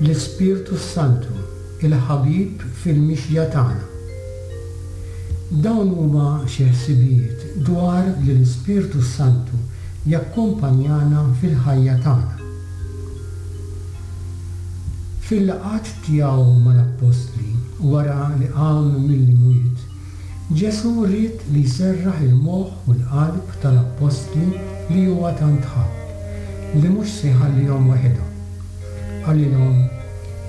L-Ispirtu s-Santu, il-ħabib fil-mixja tagħna. Dawn huma xi ħsibijiet dwar li l-Ispirtu s-Santu jakkumpanjana fil-ħajja tagħna. Fil-laqgħat tiegħu mal-appostli wara li qam mill-imwiet, Ġesù ried li jserraħ il-moħħ u l-qalb tal-appostli li huwa tant ħabb, li mhux se jħallihom weħidhom. Qalilhom,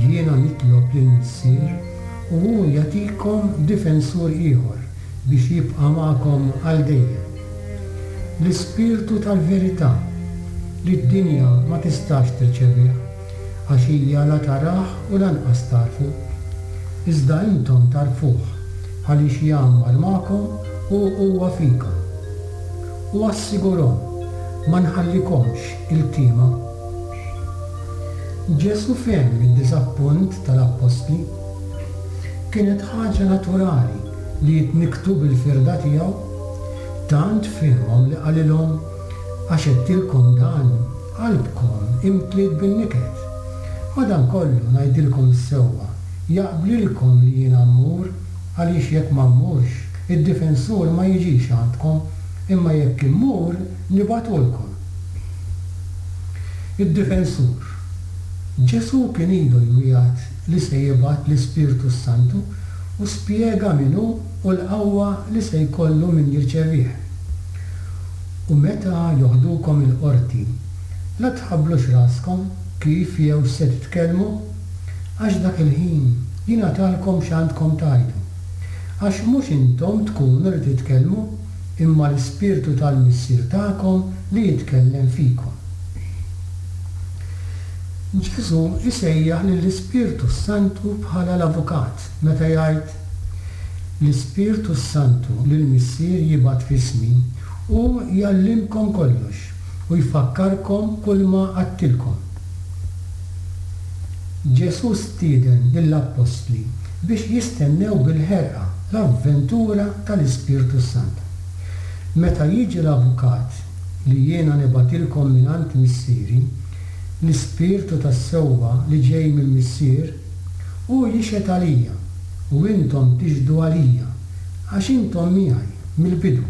Jiena nitlob lill-Missier u hu jagħtikom difensur ieħor biex jibqa' magħkom għal dejjem. L-Ispirtu tal-verità, li d-dinja ma tistax tirċevih. għax hija la tarah u lanqas tagħrfu. Iżda intom tagħrfuh, għaliex jgħammar magħkom u huwa fikom. U assigurhom, Ma nħallikomx iltiema. Ġesù fehem id-diżappunt tal-appostli. Kienet ħaġa naturali li jitnikktu bil-firda tiegħu. Tant fehimhom li qalilhom, Għax għedtilkom dan, Qalbkom imtliet bin-niket. Madankollu, ngħidilkom s-sewwa, jaqblilkom li jiena mmur, għaliex jekk ma mmurx, id-Difensur ma jiġix għandkom, imma jekk immur, nibgħatulkom. Id-Difensur. Ġesù kien ilu jwiegħed li se jibgħat l-Ispirtu s-Santu u spjega min hu u l-qawwa li se jkollu min jirċevih. U meta joħdukom il-qorti, la tħabblux raskom kif jew x'se titkellmu, għax dak il-ħin jingħatalkom x'għandkom tgħidu. Għax mhux intom tkunu li titkellmu, imma l-Ispirtu tal-Missier tagħkom li jitkellem fikom. Ġesù jsejjaħ lill-Ispirtu s-Santu bħala l-avukat meta jgħid, L-Ispirtu s-Santu li l-Missier jibgħat f'ismi, hu jgħallimkom kollox u jfakkarkom kulma għadtilkom. Ġesù stieden lill-appostli biex jistennew bil-ħerqa l-avventura tal-Ispirtu s-Sant. Meta jiġi l-Avukat li jiena nibgħatilkom mingħand Missieri, l-Ispirtu tas-sewwa li ġej minn Missier, Hu jixhed għalija, u intom tixhdu għalija, għax intom miegħi mill-bidu.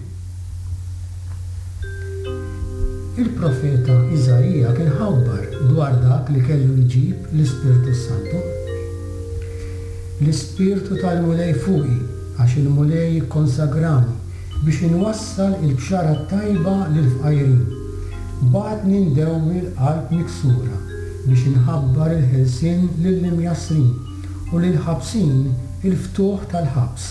Il-profeta Iżaija kien ħabbar dwar dak li kellu jġib l-Ispirtu s-Santu, L-Ispirtu tal-Mulej fuqi, għax il-Mulej ikkonsagrani Biex inwassal il-Bxara t-Tajba lill-fqajrin, bagħatni ndewwi l-qalb miksura biex inħabbar il-ħelsien lill-imjassrin u lill-ħabsin il-ftuħ tal-ħabs.